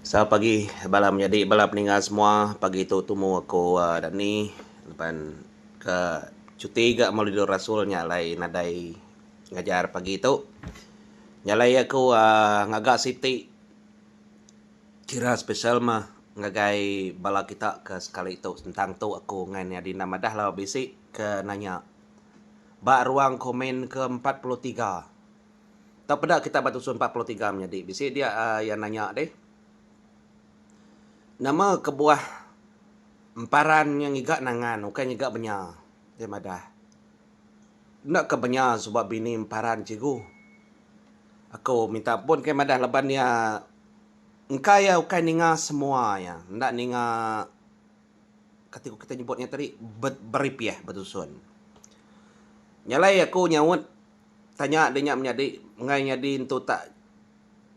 Selamat pagi bala menyadi bala peninga semua pagi tu tumu aku Dani laban ke cuti ga Maulidul Rasul nya alai nadai ngajar pagi tu nya alai aku uhh ngaga siti kira special mah ngagai bala kita ke sekali tu sentang tu aku ngan nya Dina madah lalu bisi ke nanya ba ruang komen ke empat puluh tiga. Tau peda kitai ba tusun empat puluh tiga menyadi bisi dia iya nanya deh. Nama kebuah emparan nya ngiga nangan ukai ngiga benya? Iya madah. Enda ke benya suba bini emparan cikgu. Aku minta ampun kai madah laban iya engka iya ukai ninga semua iya. Enda ninga kati ku kitai nyebut nya tadi beripih betusun. Nya alai aku nyaut Tanya da nya menyadi enggai nyadi entu tak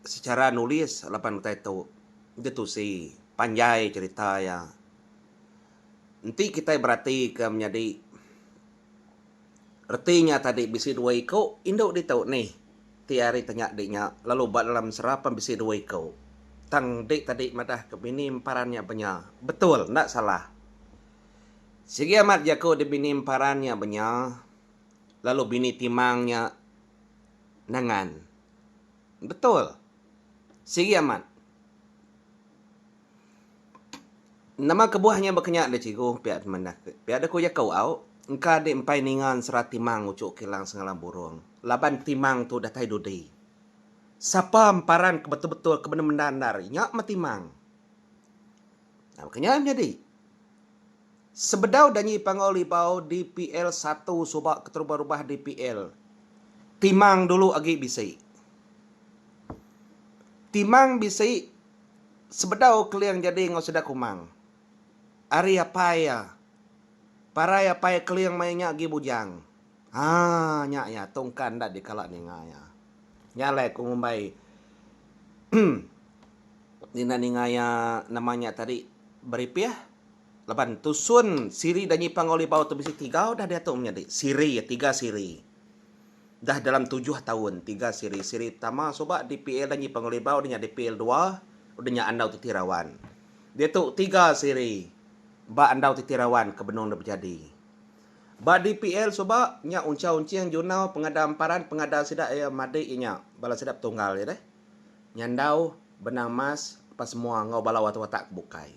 secara nulis laban utai tu ditusi panjai cerita iya. Enti kitai berati ke menyadi reti nya tadi bisi dua iku indu ditu nih ti ari tanya di nya lalu ba dalam sera pun bisi dua iku tang enti tadi madah ke bini emparan nya benya betul enda salah. Sigi amat jaku di bini emparan nya benya. Lalu bini Timang nya nangan. Betul. Sigi amat. Nama kebuah nya bakanya deh cikgu pia deh manah ke. Pia deh ku jaku au engka deh empai ninga ensera Timang uchu kilang sengalang burung. Laban Timang tu datai dudi. Sapa emparan ke betul-betul ke bendar-bendar nya meh Timang. Nah bakanya nyadi. Sebedau Danyi Panggau Libau dpl satu suba keterubah rubah dpl Timang dulu agi bisi. Timang bisi sebedau Keling jadi enggau sida Kumang. Ari apai iya. Parai apai Keling maya nya agi bujang. Ha nya iya tungka enda dikala ninga iya. Nya alai aku ngumbai tina ninga iya nama nya tadi Beripih. Laban tusun siri da nyipang Ngau Libau tu bisi tiga udah diatu menyadi siri iya tiga siri dah dalam tujuh taun tiga siri siri pertama suba dpl da nyipang Ngau Libau nya dpl dua udah nya Andau Titirawan diatu tiga siri ba Andau Titirawan ke benung da bejadi ba dpl suba nya Unchau Unching Junau Pengada Emparan Pengada sida iya madi iya nya bala sida betunggal iya deh Nyandau Benang Mas apai semua enggau bala watak-watak ke bukai.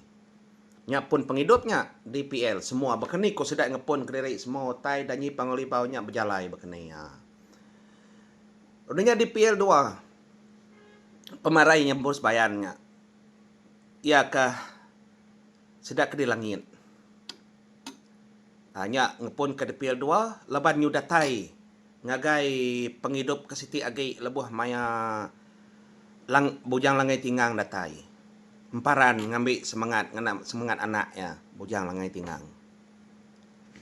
Nya pun pengidup nya dpl semua bakani ku sida ngepun kediri semua utai danyi pangalibau nya bejalai bakani iya. Udah nya dpl dua pemarai nyebur sebayan nya iya ka sida ke di langit. Nya ngepunka depil dua laban nyudatai ngagai pengidup ke siti agi lebuh maya Bujang Langai Tingang datai emparan ngambi semengat ngena semengat anak iya Bujang Langai Tingang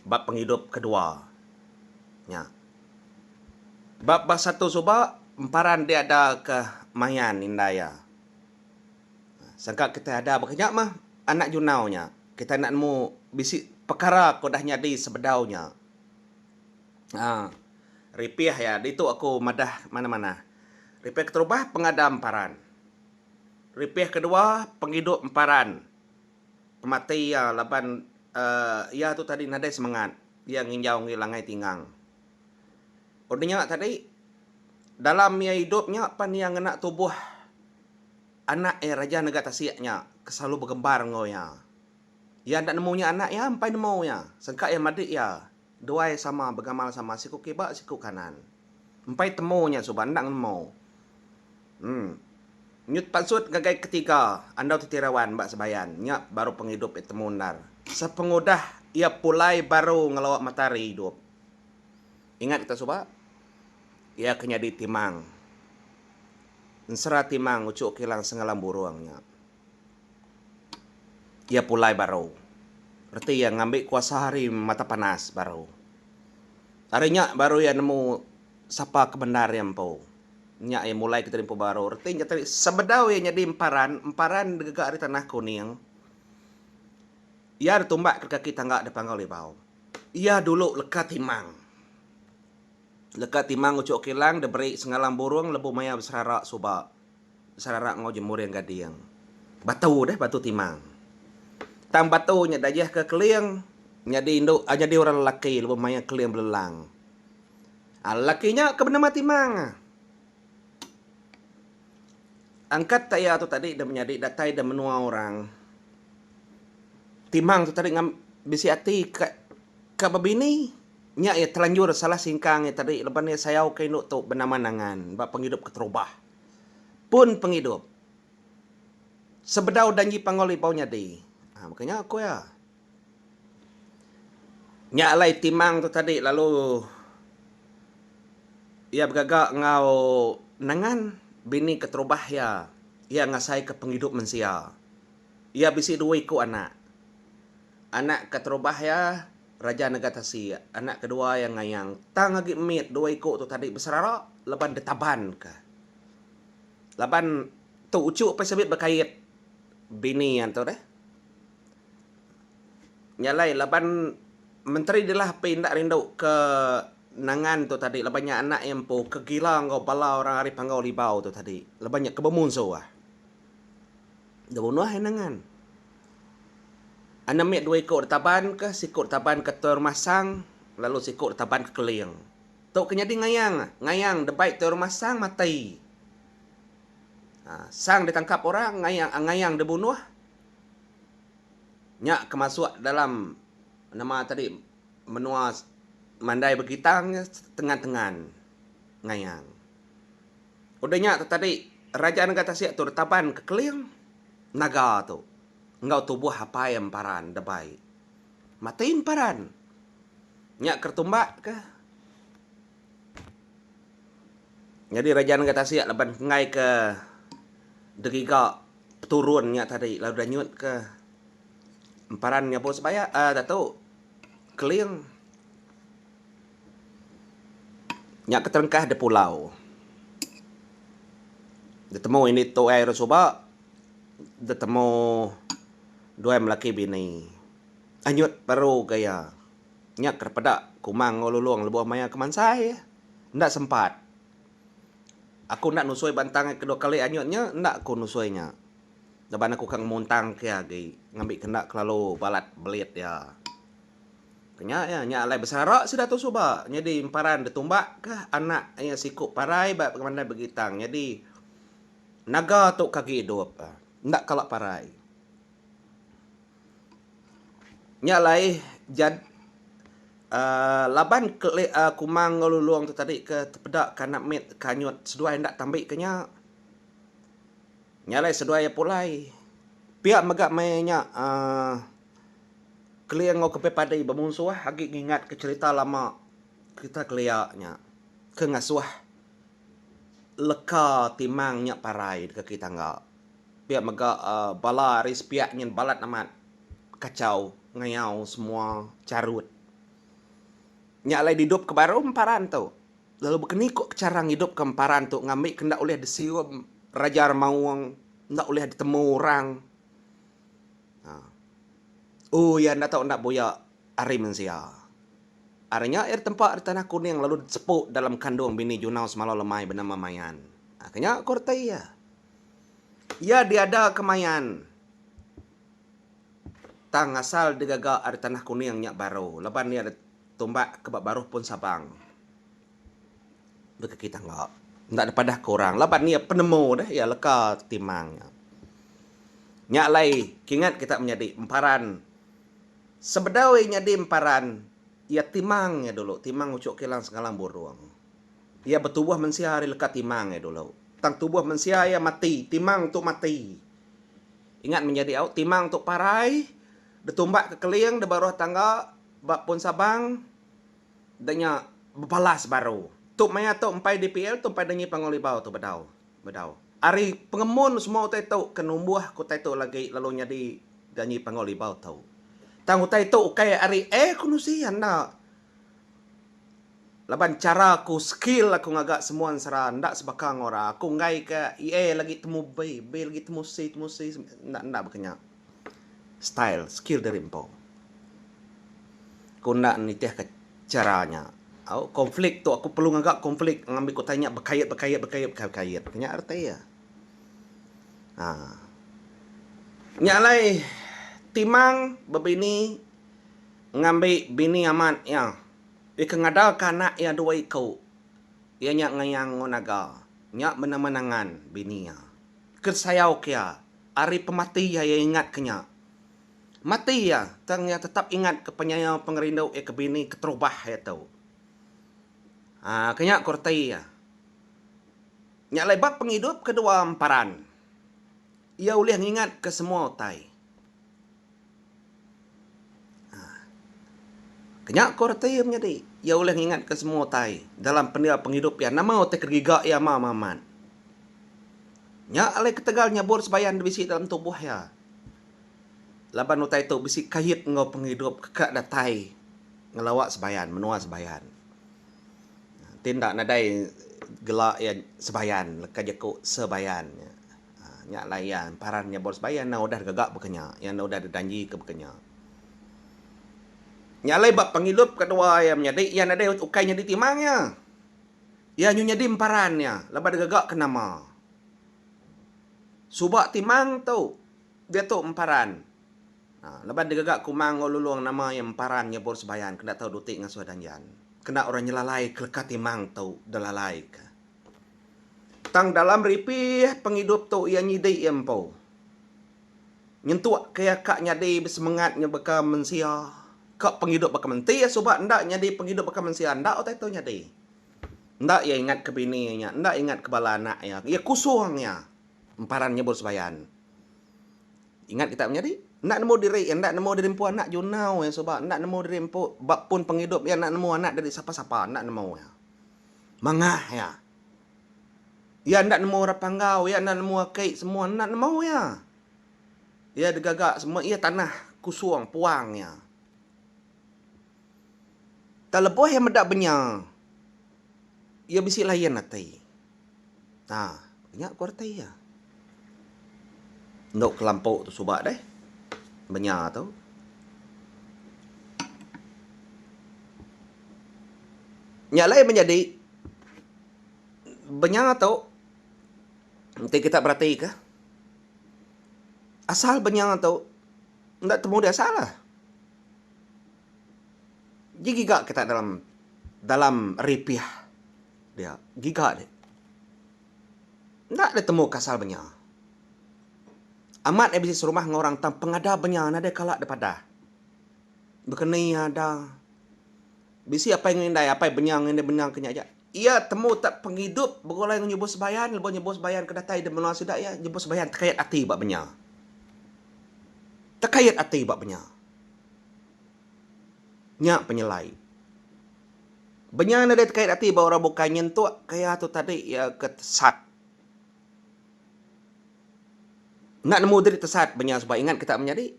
ba pengidup kedua nya. Ba basa tu suba emparan diada ke mayan indai iya. Sangka kitai ada baka nya mah anak junau nya, kitai enda nemu bisi pekara ke udah nyadi sebedau nya. Aa. Ripih iya ditu aku madah manah-manah. Ripih keterubah pengadam paran. Ripih kedua pengidup emparan pemati iya laban aaa iya tu tadi nadai semangat iya nginjau ngi langai tingang. Udah nya tadi, dalam iya idup nya pan iya ngena tubuh anak iya raja nega tasik nya ke selalu begembar enggau iya. Iya enda nemu nya anak iya empai nemu iya, sengka iya madik iya duai sama begamal sama siku kiba siku kanan. Empai temu nya suba enda nemu. Em. Nyut pansut ngagai ketiga andau ti tirawan ba Sebayan nya baru pengidup iya temu endar sepengudah iya pulai baru ngelawa matahari idup. Ingat kita suba, iya ke nyadi timang ensera timang uchu kilang sengalam burung nya. Iya pulai baru, reti iya ngambi kuasa ari mata panas baru. Ari nya baru iya nemu sapa ke bendar iya empu. Nya iya mulai ke jadi empu baru. Reti nya tadi sebedau iya nyadi emparan, emparan degega ari tanah kuning, iya ditumba ke kaki tangga depanggau libau. Iya dulu leka timang. Leka timang uchu kilang diberi sengalang burung lebu maya beserara suba. Beserara enggau jemuring gading. Batu deh batu timang. Tang batu nya diajihka keling nyadi indu nyadi orang lelaki lebu maya keling belelang. Lelaki nya ke benama timang. Angkat ke iya tu tadi da menyadi datai da menua orang. Timang tu tadi ngam bisi ati ka ka ba bini nya iya telanjur salah singkang iya tadi laban iya sayau ka indu tu benaman angan ba pengidup keterubah. Pun pengidup sebedau danji panggau libau nyadi. Baka nya ku iya. Nya alai timang tu tadi lalu iya begaga enggau Nangan bini keterubah iya, iya ngasai ka pengidup mensia. Iya bisi dua iku anak. Anak keterubah iya Raja Naga Tasik, anak kedua iya Ngayang. Tang agi mit dua iku tu tadi beserara laban ditaban ka. Laban tu uchu pia sibi bekait bini iya tu deh. Nya alai laban menteri dilah peh enda rindu ke nangan tu tadi laban nya anak iya empu ke gila enggau bala orang ari Panggau Libau tu tadi laban nya ke bemunsuh. Deh unuh iya nangan. Anem iya dua iku da Taban kah, siku da Taban ka Tuai Rumah Sang lalu siku da Taban ka Keling. Tu ke nyadi ngayang, ngayang da bai Tuai Rumah Sang matai. Sang ditangkap orang, ngayang ngayang dibunuh. Nya ke masuk dalam nama tadi menua mandai Begitang nya tengan-tengan Ngayang. Udah nya tu tadi Raja Negeri Tasik tu ditaban ke Keling naga tu enggau tubuh apai iya emparan deh bai. Mati emparan. Nya ke ditumbakka. Nyadi raja nengah tasik laban enggai ke deriga peturun nya tadi lalu deh nyut ke emparan nyabu sebaya aaa datu keling nya ke terengkah deh pulau deh temu indi tuai orang suba deh temu dua melaki bini anyut baru ga iya. Nya ke peda kuma enggau Lulong lebuh maya ke mansai. Enda sempat. Aku enda nusoi bantang iya kedua kali anyut nya enda aku nusoi nya. Laban aku ka ngemuntang ke iya agi ngambi ke enda kelalu balat belit iya. Ke nya iya, nya alai besara sida tu suba nyadi emparan detumbak ke anak iya siku parai ba pemandai Begitang nyadi naga tu ke agi idup. Enda kala parai. Nya alai jad aaa laban keli aaa kumang enggau lulong tu tadi ke tepeda ke anak mit ke anyut seduai enda tambi ke nya. Nya alai seduai iya pulai. Pia mega meh nya aaa keling enggau ke pia padi bemunsuh agi ngingat ke cerita lama kita kelia nya ke ngasuh leka timang nya parai deka ke tangga. Pia mega bala ari sepiak nyin balat amat kachau ngayau semua charut. Nya alai didup ke baru emparan tu. Lalu bekeni ko chara ngidup ke emparan tu ngambi ke enda ulih disium Raja Remaung, enda ulih ditemu orang. Haa. Ooh iya enda tau enda buya ari mensia. Ari nya iya ditempa di Tanah Kuning lalu disepu dalam kandung bini Junau Semalau Lemai benama Mayan. Haa ke nya ko reti iya. Iya diada kemayan tang asal digaga ari tanah kuning nya baru laban iya ditumbak ke ba baruh pun Sabang. Baka kita enda enda dipadah ke orang laban iya penemu deh iya leka timang nya. Nya alai kingat kita menyadi emparan sebedau iya nyadi emparan iya timang nya dulu timang uchu kilang sengalang burung. Iya betubuh mensia ari leka timang iya dulu. Tang tubuh mensia iya mati, timang tu mati. Ingat mih nyadi au, timang tu parai, detumbak ke keling deba ruah tangga ba Pun Sabang, da nya bebalas baru. Tu maya tu empai dpl tu empai dengi Panggau Libau tu bedau. Bedau. Ari pengemun semua utai tu ke numbuh ke utai tu lagi lalu nyadi janji Panggau Libau tu. Tang utai tu ukai ari air kenusi enda. Laban chara aku skill aku ngaga semua ensara enda sebaka enggau orang aku enggai ke EA lagi temu B B lagi temu C temu C enda enda baka nya style skill diri empu aku enda nitih ke chara nya au conflict tu aku perlu ngaga conflict ngambi aku tanya bekait bekait bekait bekait bekait ke nya reti iya um nya alai timang bebini ngambi bini amat iya deka ngadaka anak iya dua iku. Iya nya ngayang enggau naga nya bendar menangan bini iya. Ke sayau ke iya, ari pemati iya iya ingat ke nya. Mati iya, tang iya tetap ingat ke penyayau pengerindu iya ke bini keterubah iya tu. Haa, ke nya ku reti iya. Nya alai ba pengidup ke dua emparan, iya ulih ngingat ke semua utai. Kenya ko reti iya menyadi iya ulih ngingat ka semua utai dalam pendia pengidup iya nama utai kegiga iya mau amat. Nya alai ketegal nyebut sebayan da bisi dalam tubuh iya laban utai tu bisi kait enggau pengidup ka datai ngelawa sebayan menua sebayan. Ti enda nadai gela iya sebayan leka jaku sebayan. Nya layan paran nya baru sebaya iya enda udah gaga baka nya. Iya enda udah dijanji ke baka nya. Nya alai ba pengidup kedua iya menyadi iya nadai ukai nyadi timang iya. Iya nyu nyadi emparan iya laban iya gaga ke nama. Suba timang tu diatu emparan aaa laban iya gaga ke uma enggau lulong nama iya emparan iya baru sebaya enda tau duti ngasuh danjan. Kena orang nyelalai keleka timang tu dilalai ka. Tang dalam ripih pengidup tu iya nyidi iya empu. Nyentukka iya ka nyadi besemengat nyebaka mensia ka pengidup baka menti iya suba enda nyadi pengidup baka mensia enda utai tu nyadi. Enda iya ingatka bini iya nya, enda ingatka bala anak iya. Iya kusung iya emparan nyebut sembayan. Ingat kita menyadi, enda nemu diri iya, enda nemu diri empu anak jurnau iya suba, enda nemu diri empu ba pun pengidup iya enda nemu anak diri sapa-sapa, enda nemu iya. Mangah iya. Iya enda nemu orang Panggau, iya enda nemu aki semua enda nemu iya. Iya digaga semua iya tanah kusung puang iya. Tang lebuh iya meda benya iya bisi layan ati. Nah, nya kualiti iya. Endo kelampau tu suba deh. Menya tu. Nya alai menyadi menya tu enti kita beratika asal menya tu enda temu dih asal lah. Ji giga kita dalam dalam ripih dia. Giga dih. Enda ditemu kasal benya. Amat iya bisi serumah enggau orang tang pengadap benya nadai kala dipadah. Bekeni iya ada bisi apai enggau indai, apai benya enggau indai benya ke nya aja. Iya temu tak pengidup begulai enggau nyebut sembayan lebuh nyebut sembayan ke datai di menua sida iya nyebut sembayan tekait ati ba benya. Tekait ati ba benya. Nya penyelai. Benya nadai tekait ati ba orang bukai nyentuk kaya tu tadi iya ke tesat. Enda nemu diri tesat benya sebab ingat kita menyadi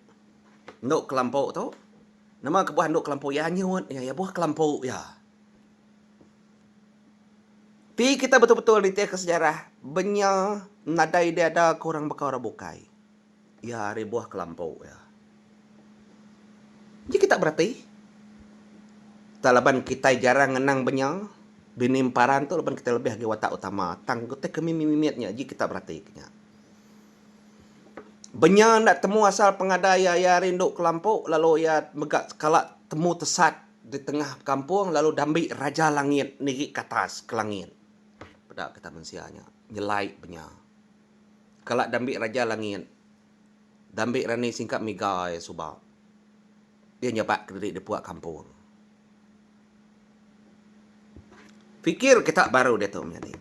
endu kelampu tu nama kebuah endu kelampu iya anyut iya iya buah kelampu iya. Ti kita betul-betul nitihka sejarah benya nadai diada ke orang baka orang bukai. Iya ari buah kelampu iya. Enti kita berati, tang laban kitai jarang ngenang ba nya, bini emparan tu laban kitai lebih agi watak utama tang utai ke mimit-mimit nya ji kita berati ke nya. Ba nya enda temu asal pengadai iya, iya rindu kelampu lalu iya mega kala temu tesat di tengah kampung lalu dambi raja langit nigi ke atas ke langit. Peda kita mensia nya nyelai ba nya. Kala Dambik Raja Langit, Dambik rani singkap mega iya suba. Iya nyabak kediri dipua kampung. Fikir kita baru diatu menyadi.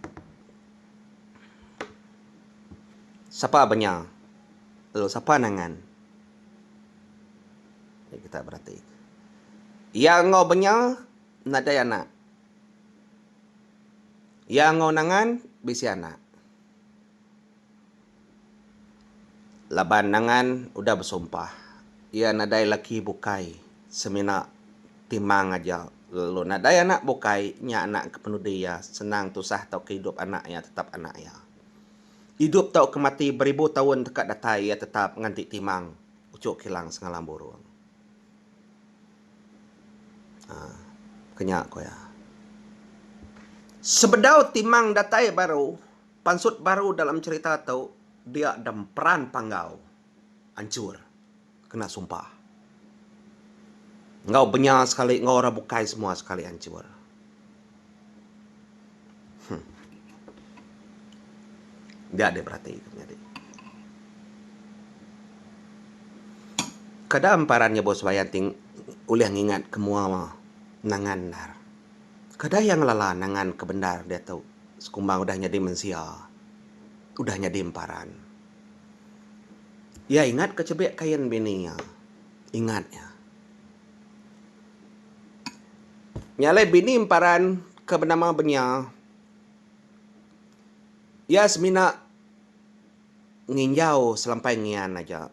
Sapa benya lalu sapa nangan meri kita berati. Iya enggau benya nadai anak. Iya enggau nangan bisi anak. Laban Nangan udah besumpah, iya nadai laki bukai semina timang aja lalu nadai anak bukai nya anak ke penudi iya senang tusah tauka idup anak iya tetap anak iya. Idup tauka mati beribu taun deka datai iya tetap nganti timang uchu kilang semalam burung. Ke nya ku iya. Sebedau timang datai baru, pansut baru dalam cherita tu dia demperan panggau anchur kena sumpah. Enggau benya sekali enggau orang bukai semua sekali anchur. Huh. Dia deh berati tu nyadi. Kada amparan nya Bos Bayan ti ulih ngingat ke mua nangan endar. Kada iya ngelala nangan ke bendar diatu sekumbang udah nyadi mensia, udah nyadi emparan. Iya ingat ke chebik kain bini iya. Ingat iya. Nya alai bini emparan ke benama Benya, iya semina nginjau selampai ngian aja.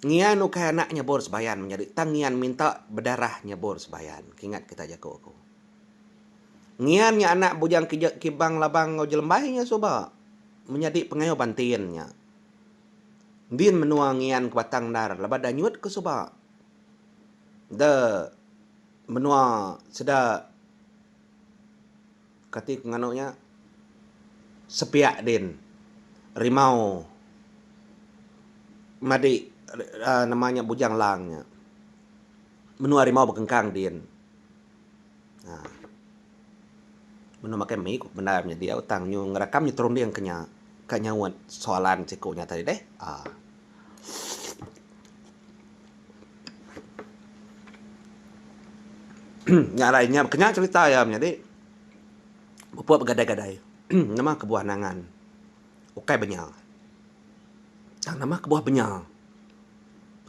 Ngian ukai anak nyebur sebayan menyadi tang ngian minta bedarah nyebur sebayan ke ingat kitai jaku aku. Ngian nya anak Bujang Kibang Labang enggau Jelembai nya suba menyadi pengayuh bantin nya. Ndin menua ngian ke batang endar laban enda nyut ke suba. Enda menua sida kati ku nganu nya sepiak din rimau madi aaa nama nya bujang lang nya. Menua rimau bekengkang din. Menu makai mie ku bendar nyadi au tang nyu ngerakam nyu terunding ke nya ka nyaut soalan siku nya tadi deh aaa. Nya alai nya kena cerita iya menyadi pupuk begadai-gadai nama kebuah nangan ukai benya tang nama kebuah benya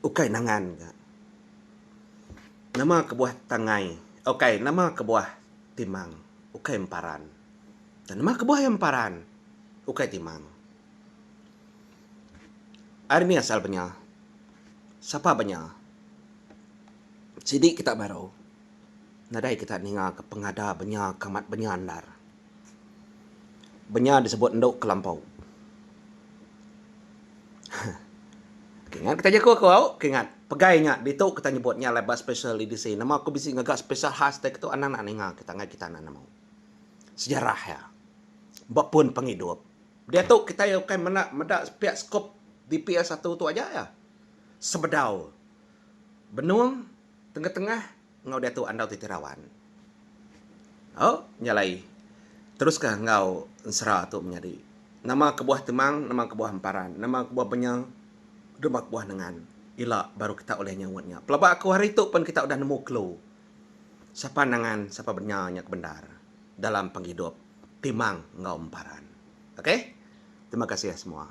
ukai nangan ga. Nama kebuah tangai? Ukai, nama kebuah timang? Ukai emparan. Dan nama kebuah iya emparan? Ukai timang. Ari mih asal benya? Sapa benya? Sidi kita baru nadai kita ninga ke pengada benya ke amat benya andar. benya disebut endu kelampau. Okey ngan taja ku aku au, okey ngan pegai nya ditu kita nyebut nya laban special edisi. Nama ku bisi ngaga special khas dei ketu anang naak ninga kita ngagai kita anak amau. Sejarah iya ba pun pengidup. Diatu kitai ukai menda meda pia skup DPL satu tu aja iya. Sebedau benung tengah-tengah. Enggau Datuk Andau Ti Terawan. O, nyalai. Teruska enggau ensera tu menyadi. Nama kebuah temang, nama kebuah emparan, nama kebuah benya, nama kebuah nengan. Ila baru kita ulih nyaut nya. Pelaba aku hari tu pun kita udah nemu kelu sapa nengan, sapa benya nya ke bendar dalam pengidup temang enggau emparan. Okey. Terima kasih semua.